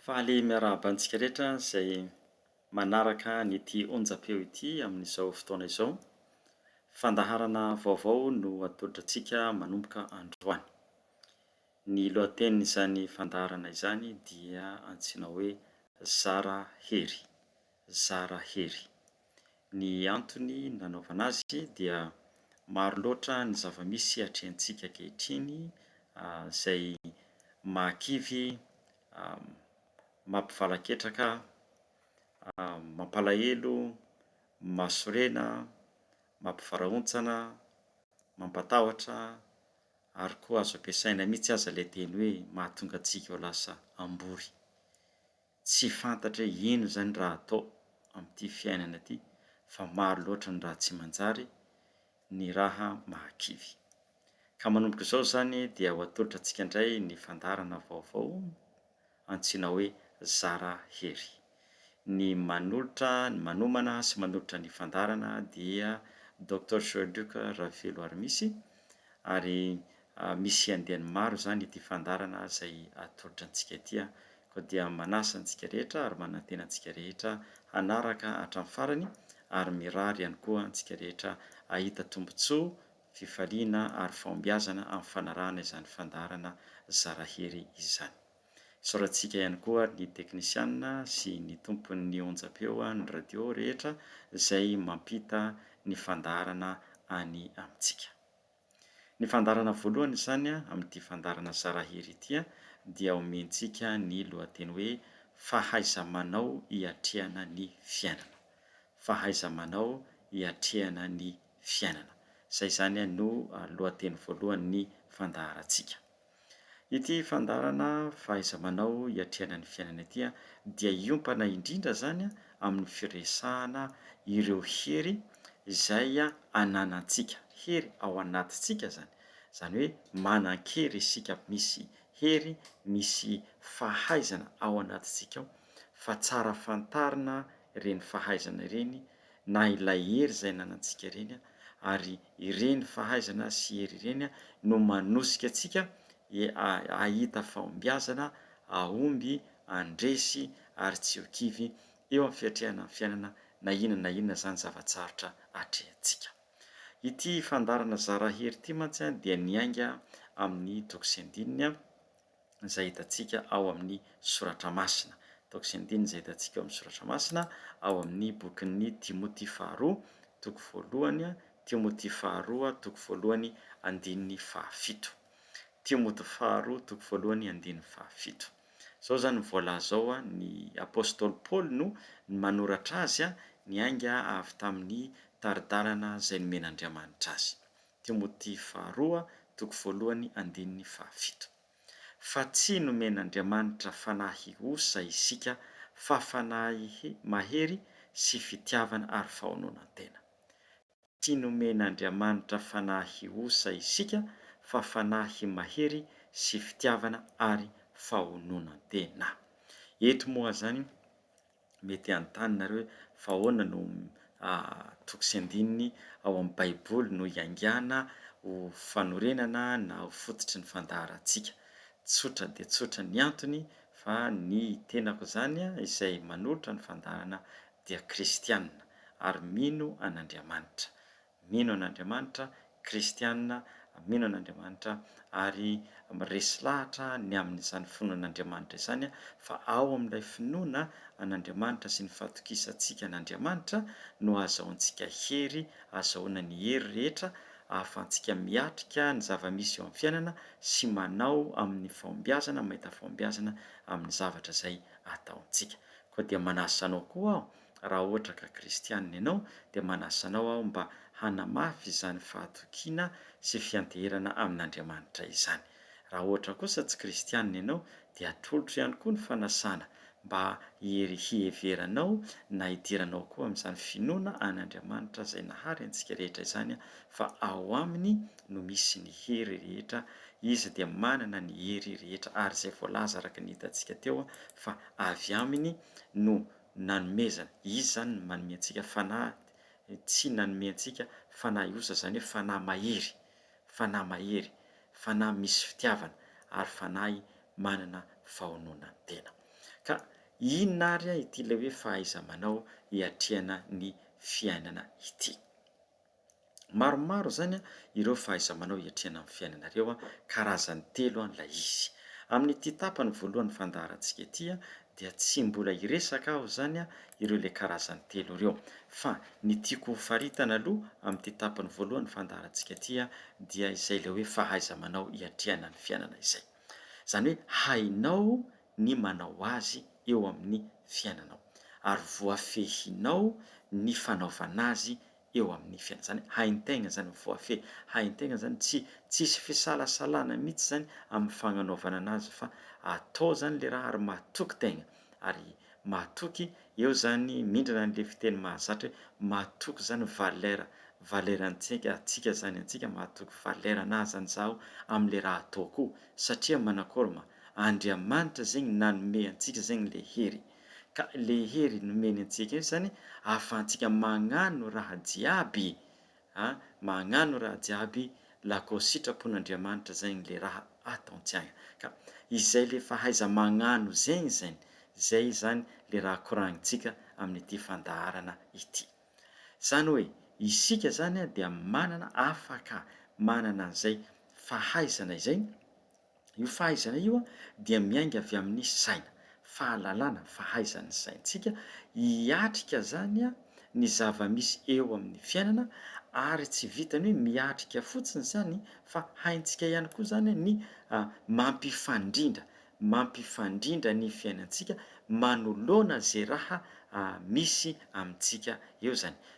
Faly miarahaba antsika rehetra izay manaraka an'ity onjam-peo ity amin'izao fotoana izao. Fandaharana vaovao no atolotra antsika manomboka androany. Ny lohatenin'izany fandaharana izany dia antsoina hoe Zara hery, zara hery. Ny antony nanaovana azy dia maro loatra ny zava-misy atrehantsika ankehitriny izay mahakivy, mampivalaketraka, mampalahelo, mahasorena, mampivarahontsana, mampatahotra ary koa azo ampiasaina mihitsy aza ilay teny hoe mahatonga antsika ho lasa hambory. Tsy fantatra hoe inona izany raha atao amin'ity fiainana ity fa maro loatra ny raha tsy manjary, ny raha mahakivy. Ka manomboka izao izany dia ho atolotra antsika indray ny fandaharana vaovao antsoina hoe Zara hery. Ny manolotra, ny manomana sy manolotra ny fandaharana dia Doctor Joël Luc Raveloarimisy ary Misy andiany maro izany ity fandaharana izay atolotra antsika ity an! Koa dia manasa antsika rehetra ary manantena antsika rehetra hanaraka hatramin'ny farany ary mirary ihany koa antsika rehetra hahita tombontsoa, fifaliana ary fahombiazana amin'ny fanarahana izany fandaharana zara hery izany. Isaorantsika ihany koa ny teknisianina sy ny tompon'ny onjam-peo an'ny radio rehetra izay mampita ny fandaharana any amintsika. Ny fandaharana voalohany izany amin'ity fandaharana Zarahiry ity dia omentsika ny lohateny hoe Fahaiza-manao hiatrehana ny fiainana. Fahaiza-manao hiatrehana ny fiainana. Izay izany no lohateny voalohan'ny fandaharantsika. Ity fandaharana fahaiza-manao hiatrehana ny fiainana ity dia hiompana indrindra izany amin'ny firesahana ireo hery izay ananantsika, hery ao anatintsika izany, izany hoe manan-kery isika, misy hery, misy fahaizana ao anatintsika ao fa tsara fantarina ireny fahaizana ireny. na ilay hery izay ananantsika ireny ary ireny fahaizana sy hery ireny no manosika antsika hahita fahombiazana hahomby handresy ary tsy ho kivy eo amin'ny fiatrehana ny fiainana na inona na inona izany zava-tsarotra atrehintsika. Ity fandaharana Zara hery ity mantsy dia niainga amin'ny toko sy andininy izay hitantsika ao amin'ny Soratra Masina. Ataoko izay andininy izay hitantsika ao amin'ny Soratra Masina, ao amin'ny bokin'ny Timoty faharoa, toko voalohany, Timoty faharoa, toko voalohany, andininy fahafito. Timoty faharoa, toko voalohany, andininy fahafito. Izao izany no voalaza ao, Ny apostoly Paoly no manoratra azy, niainga avy tamin'ny tari-dalana izay nomen'Andriamanitra azy. Timoty faharoa toko voalohany andininy fahafito. Fa tsy nomen'Andriamanitra fanahy hihosa isika fa fanahy mahery sy fitiavana ary fahononan-tena. Tsy nomen'Andriamanitra fanahy hihosa isika fa fanahy mahery sy fitiavana ary fahononan-tena. Eto moa zany Mety hanontany nareo hoe fa ahoana no toko sy andininy ao amin'ny Baiboly no iaingàna ho fanorenana na ho fototry ny fandaharantsika. Tsotra dia tsotra ny antony fa ny tenako izany izay manolotra ny fandaharana dia kristiana ary mino an'Andriamanitra. mino an'Andriamanitra, kristiana, mino an'Andriamanitra ary miresy lahatra ny amin'izany finoana an'Andriamanitra izany fa ao amin'ilay finoana an'Andriamanitra sy ny fatokisantsika an'Andriamanitra no ahazahoantsika hery, ahazahoana ny hery rehetra ahafahantsika miatrika ny zava-misy eo amin'ny fiainana sy manao amin'ny fahombiazana mahita fahombiazana amin'ny zavatra izay ataontsika. Koa dia manasa anao koa aho Raha ohatra ka kristianina ianao, dia manasa anao aho mba hanamafy izany fahatokiana sy fianteherana amin'Andriamanitra izany. Raha ohatra kosa tsy kristianina ianao, dia atolotro ihany koa ny fanasana mba hiheveranao na hidiranao koa amin'izany finoana an'Andriamanitra izay nahary antsika rehetra izany fa ao aminy no misy ny hery rehetra, izy dia manana ny hery rehetra ary izay voalaza araka ny hitantsika teo fa avy aminy no nanomezana. Izy zany no manome antsika fanahy, tsy nanome antsika fanahy osa, izany hoe fanahy mahery, fanahy mahery, fanahy misy fitiavana ary fanahy manana fahononan-tena. Ka inona ary ity ilay hoe fahaiza-manao hiatrehana ny fiainana ity? Maromaro izany ireo fahaiza-manao hiatrehana ny fiainanareo, karazany telo ilay izy. Amin'ity tapany voalohan'ny fandaharantsika ity dia tsy mbola hiresaka aho izany ireo ilay karazany telo ireo, fa ny tiako ho faritana aloha amin'ity tapany voalohan'ny fandaharantsika ity dia izay ilay hoe fahaiza-manao hiatrehana ny fiainana izay. Izany hoe hainao ny manao azy eo amin'ny fiainanao ary voafehinao ny fanaovana azy eo amin'ny fiainana zany haintegna zany voafehy haintegna zany tsy tsisy fisalasalana mitsy zany amin'ny fagnanaovana anazy fa atao zany le raha ary matoky tegna ary matoky eo zany mindrana anle fiteny mahazatra hoe matoky zany valeur valeur antsika atsika zany antsika matoky valeur anahy zany zaho amle raha ataoko satria manakory ma Andriamanitra zegny nanome antsika zegny le hery. Ka le hery nomeny antsika io zany ahafahantsika magnano raha jiaby a, magnano raha jiaby la ko sitrapon'Andriamanitra zegny le raha ataontsiagna. Ka izay le fahaiza magnano zegny zegny, zay zany le raha koragnintsika amin'ity fandaharana ity. Zany hoe isika zany dia manana afaka manana an'izay fahaizana izay, Io fahaizana io dia miainga avy amin'ny saina, fahalalana, fahaizan'ny saintsika hiatrika izany ny zava-misy eo amin'ny fiainana ary tsy vitan'ny hoe miatrika fotsiny izany fa haintsika ihany koa izany ny mampifandrindra, mampifandrindra ny fiainantsika manoloana izay raha misy amintsika eo izany.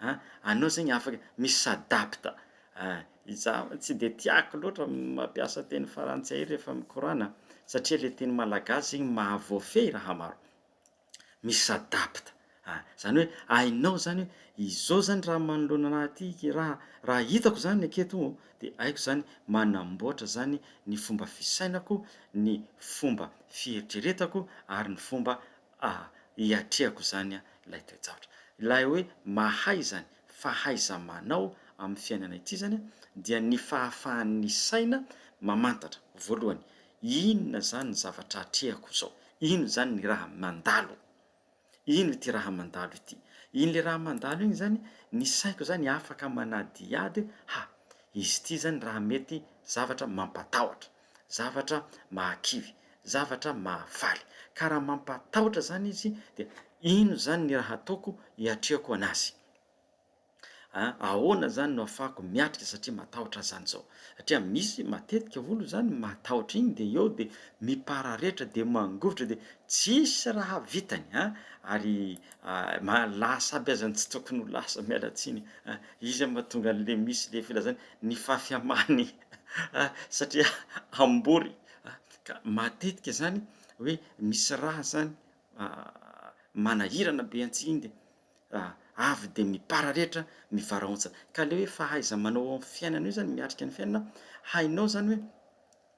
a anao zegny afaka mi s'adapte a izaho mantsy tsy de tiako loatra mampiasa teny frantsay rehefa mikorana satria le teny malagasy zegny mahavoafehy raha maro mi s'adapte a zany hoe hainao zany hoe izao zany raha manoloana anahy aty ke raha raha hitako zany aketo o de haiko zany manamboatra zany ny fomba fisainako ny fomba fieritreretako ary ny fomba Ah, hiatrehako izany an, ilay toe-javatra. Ilay hoe mahay izany, fahaiza-manao amin'ny fiainana ity izany an, dia ny fahafahan'ny saina mamantatra, voalohany, inona izany ny zavatra atrehako izao, inona izany ny raha mandalo, inona ity raha mandalo ity. Iny ilay raha mandalo iny izany, ny saiko izany afaka manadihady hoe, ha, izy ity izany raha mety zavatra mampatahotra. zavatra mahakivy, zavatra mahafaly. Ka raha mampatahotra izany izy, dia ino izany ny raha ataoko hiatrehako an'azy? A, ahoana izany no afahako miatrika satria matahotra azy izany izao? Satria misy matetika olona izany matahotra iny dia eo dia mipararetra dia mangovitra dia tsisy raha vitany a, ary a, ma, lasa aby aza ny tsy tokony ho lasa, miala tsiny a, izy mahatonga an'ilay misy ilay filazana ny fahafiham-any satria hambory ka matetika izany hoe misy rà izany manahirana be antsinde avy dia mipararehetra ny varaontsa ka le hoe fahaiza-manao eo amin'ny fiainana io izany miatrika ny fiainana hainao izany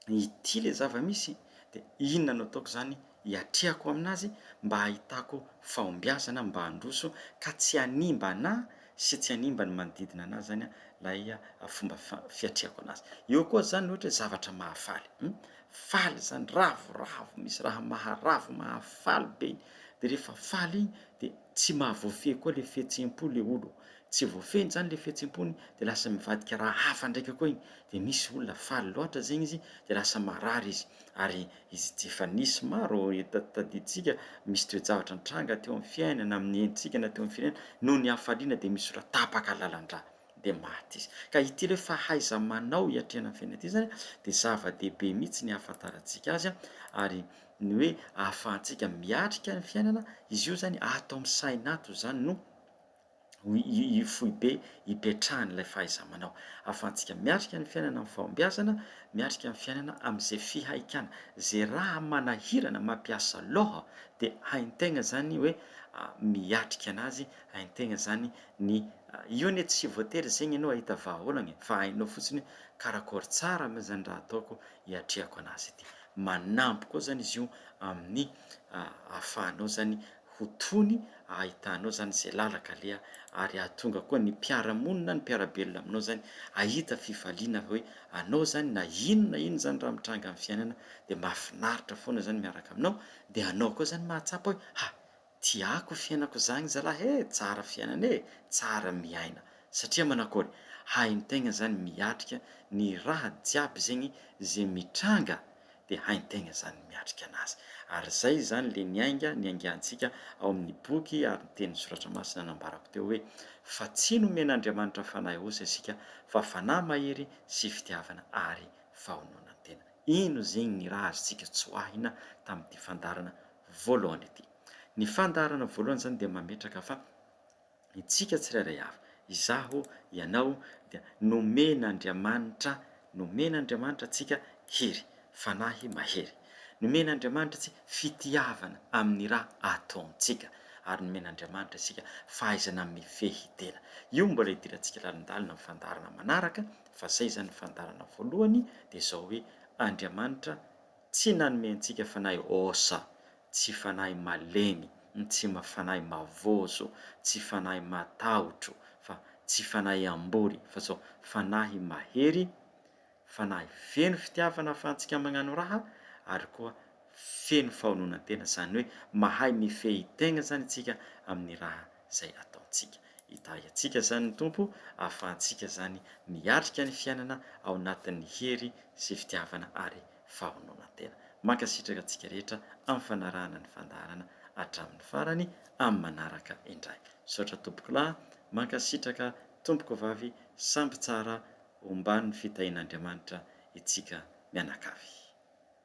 hoe ity le zava-misy dia inona no ataoko izany hiatrehako amin'azy mba hahitako fahombiazana mba handroso ka tsy hanimba anà sy tsy hanimba ny manodidina anà zany lay fomba fiatrehako an'azy. Eo koa zany ohatra hoe zavatra mahafaly um faly zany ravoravo misy raha maharavo mahafaly be iny de rehefa faly iny de tsy mahavoafehy koa le fihetseham-po le olo tsy voafehiny zany le fihetseham-pony de lasa mivadika raha hafa ndraika koa iny de misy olona faly loatra zegny izy de lasa marary izy ary Izy ity efa nisy maro tadidintsika, misy toe-javatra nitranga teo amin'ny fiainana, amin'ny entintsika na teo amin'ny firenena, noho ny hafaliana dia misy olona tapaka lalan-drà, dia maty izy. Ka ity ilay fahaiza-manao hiatrehana ny fiainana ity izany dia zava-dehibe mihitsy ny hahafantarantsika azy ary ny hoe ahafahantsika miatrika ny fiainana, izy io izany ato amin'ny saina ato izany no io foibe ipetrahan'ilay fahaiza-manao. Ahafahantsika miatrika ny fiainana amin'ny fahombiazana, miatrika ny fiainana amin'izay fihaikana. Izay raha manahirana mampiasa loha dia hain-tegna zany hoe miatrika anazy, hain-tegna zany ny, io anie tsy voatery zegny anao hahita vahaolagna e, fa hainao fotsiny hoe karakôry tsara moa zany raha ataoko hiatrehako anazy ity. Manampy koa zany izy io amin'ny ahafahanao zany ho tony ahitanao zany ze lalaka aleha ary ahatonga koa ny mpiara monina ny mpiara belona aminao zany ahita fifaliana hoe anao zany na ino na ino zany raha mitranga amin'ny fiainana de mahafinaritra foana zany miaraka aminao de anao koa zany mahatsapa hoe ha tiako fiainako zagny zalah e tsara fiainana e tsara miaina satria manakory haintegna zany miatrika ny raha jiaby zegny ze mitranga dia haintegna izany ny miatrika anazy. Ary izay izany le niainga niaingantsika ao amin'ny boky ary ny tenin'ny Soratra Masina nambarako teo hoe, Fa tsy nomen'Andriamanitra fanahy osa isika, fa fanahy mahery sy fitiavana ary fahononan-tena. Ino zegny ny raha azontsika tsoahina tamin'ity fandaharana voalohany ity? Ny fandaharana voalohany izany dia mametraka fa, Isika tsirairay avy, izaho, ianao, dia nomen'Andriamanitra, nomen'Andriamanitra antsika hery, fanahy mahery. Nomen'Andriamanitra antsika fitiavana amin'ny raha ataontsika, ary nomen'Andriamanitra isika fahaizana mifehy tena. Io mbola hidirantsika lalindalina amin'ny fandaharana manaraka, fa izay izany ny fandaharana voalohany, dia izao hoe, Andriamanitra Tsy nanome antsika fanahy osa, tsy fanahy malemy, tsy fanahy mavozo, tsy fanahy matahotro, fa tsy fanahy ambory, fa zao fanahy mahery, fanahy feno fitiavana ahafahantsika mañano raha, ary koa feno fahononan-tena, zany hoe mahay mifehy tegna zany isika amin'ny raha izay ataontsika. Hitahy antsika izany ny Tompo, hahafahantsika izany miatrika ny fiainana ao anatin'ny hery sy fitiavana ary fahaononantena. Mankasitraka antsika rehetra amin'ny fanarahana ny fandaharana hatramin'ny farany, amin'ny manaraka indray. Misaotra Tompokolahy, mankasitraka Tompokovavy, samby tsara, ombàn'ny fitahian'Andriamanitra itsika mianakavy.